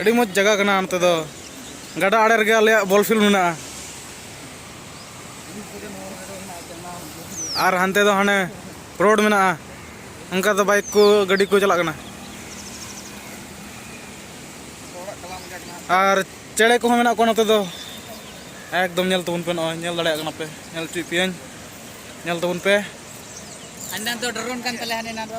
ᱟᱹᱰᱤ ᱢᱚᱡᱽ ᱡᱟᱭᱜᱟ ᱠᱟᱱᱟ ᱚᱱᱛᱮ ᱫᱚ ᱜᱟᱰᱟ ᱟᱲᱮ ᱨᱮᱜᱮ ᱟᱞᱮᱭᱟᱜ ᱵᱚᱞ ᱯᱷᱤᱞᱰ ᱢᱮᱱᱟᱜᱼᱟ ᱟᱨ ᱦᱟᱱᱛᱮ ᱫᱚ ᱦᱟᱱᱮ ᱨᱳᱰ ᱢᱮᱱᱟᱜᱼᱟ ᱚᱱᱠᱟ ᱫᱚ ᱵᱟᱭᱤᱠ ᱠᱚ ᱜᱟᱹᱰᱤ ᱠᱚ ᱪᱟᱞᱟᱜ ᱠᱟᱱᱟ ᱟᱨ ᱪᱮᱬᱮ ᱠᱚᱦᱚᱸ ᱢᱮᱱᱟᱜ ᱠᱚᱣᱟ ᱱᱚᱛᱮ ᱫᱚ ᱮᱠᱫᱚᱢ ᱧᱮᱞ ᱛᱟᱵᱚᱱ ᱯᱮ ᱱᱚᱜᱼᱚᱭ ᱧᱮᱞ ᱫᱟᱲᱮᱭᱟᱜ ᱠᱟᱱᱟ ᱯᱮ ᱧᱮᱞ ᱦᱚᱪᱚᱭᱮᱫ ᱯᱮᱭᱟᱹᱧ ᱧᱮᱞ ᱛᱟᱵᱚᱱ ᱯᱮ ᱟᱱᱟᱱ ᱫᱚ ᱰᱨᱳᱱ ᱠᱟᱱ ᱛᱟᱞᱮᱭᱟ ᱦᱟᱱᱮ ᱱᱟ ᱫᱚ